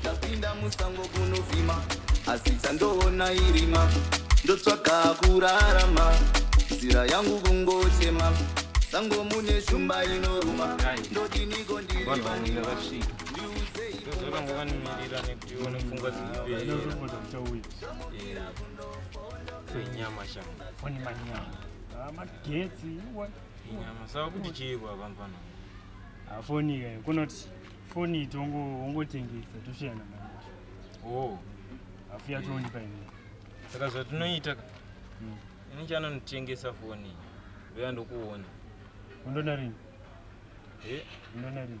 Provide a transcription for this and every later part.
ndapinda musango kunovhima asi chandoona irima ndotsvaga kurarama nzira yangu kungochema sango mune shumba inoruma ndodiniko ndirivandiuzeiaaimirira Foni manyama. Ah, magetsi. Iwe. Nyama saka kuti chiiko apa mfana. Ah, foni iyoyo. Kunoti foni itongo ungotengesa toshayana manje. Oh. Afuya toni pa ine. Saka zvatinoita ka. Mm. Ini chana notengesa foni. Veya ndokuona. Undona rini? Eh, undona rini?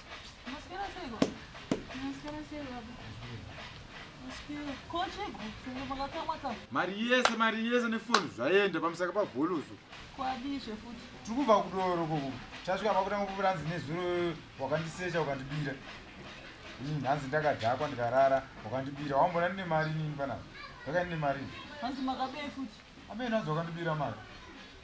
mari yese mari yese nefoni zvaenda pamusaka pavholoso kwadizve futi tiri kubva kudoro koko tasvika pakutanga kupira hanzi nezuro wakandisecha ukandibira hmm, hanzi ndakadhakwa ndikarara wakandibira wambona ndine mari nini panapa ndakaine mari hanzi makabei futi Amen hanzi wakandibira mari.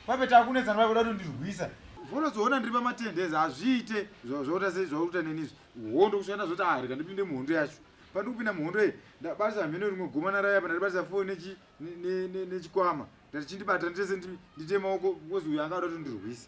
Pape takunetsana vakuda kutondirwisa. Unozoona ndiri pamatendezi hazviite zvaota sei zvakuita neni izvi. Hondo kusiyana zvoti ah rega ndipinde muhondo yacho. Pandi kupinda muhondo iyi ndabatisa mhino rimwe goma naraya apa ndaribatisa foni nechi nechikwama. Ndati chindibata nditese ndite maoko because uyu anga akuda kutondirwisa.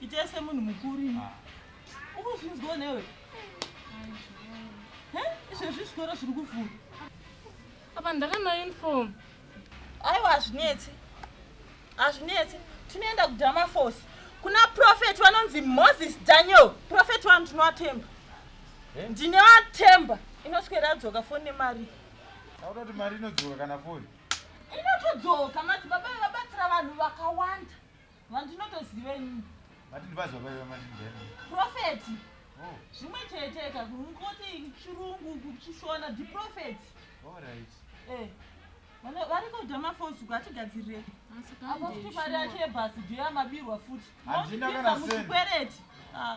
Ita semunhu mukuru ini. Ah. Ukuzvinzwa newe. Eh? Izvezvi zvikoro zviri kuvhura. Apa ndakana uniform. Aiwa hazvinetsi. Hazvinetsi. Tinoenda kudama force. Kuna prophet vanonzi Moses Daniel. Prophet wanu tinovatemba. Eh? Ndine vatemba. Inoswera dzoka foni nemari. Auroti mari inodzoka kana foni. inotodzoka madzibaba aya vabatsira vanhu vakawanda vandinotoziva inini Mati ndibazi baba iwe mati ndiyani? profeti Oh, zvimwe cheteka kungoti chirungu kuchishona ndiprofeti all right. Eh, vana- vari kuda mafosu ngatigadzirire apa futi mari yacho yebhasi ndiyo yamabirwa futi Handina kana Mozvipinza cent. muzvikwereti Ah.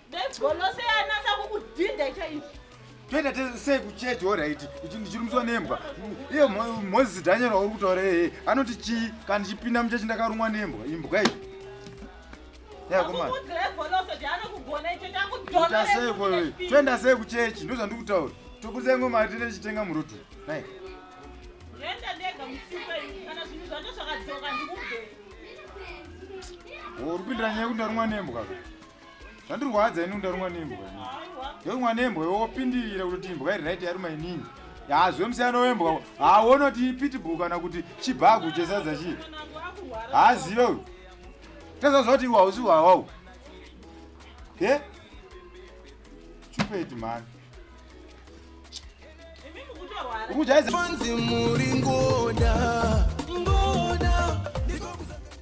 Golose yanasa kukudhinda chaicho. Toenda sei kuchechi horaiti ndichirumiswa nembwa iye moses daniel wauri kutaura ee anoti chii kana ndichipinda muchechi ndakarumwa nembwa imbwa iyi toenda sei kuchechi ndo zvandiri kutaura toburitsa imwe mari tine tichitenga murutu nai uri kupindira nyaya yekuti ndarumwa nembwa zvandirwadza ini ndarumwa nembwa ndarumwa nembwa iwe wopindirira kutoti imbwa iri right yaruma inini hazve musiyano wembwa hauone kuti ipitibhu kana kuti chibhagu chesadza chii haazive uyu tazaziva kuti iwe hausi hwawawu ke chupeti mhani ukujaiza Fancy muri ngoda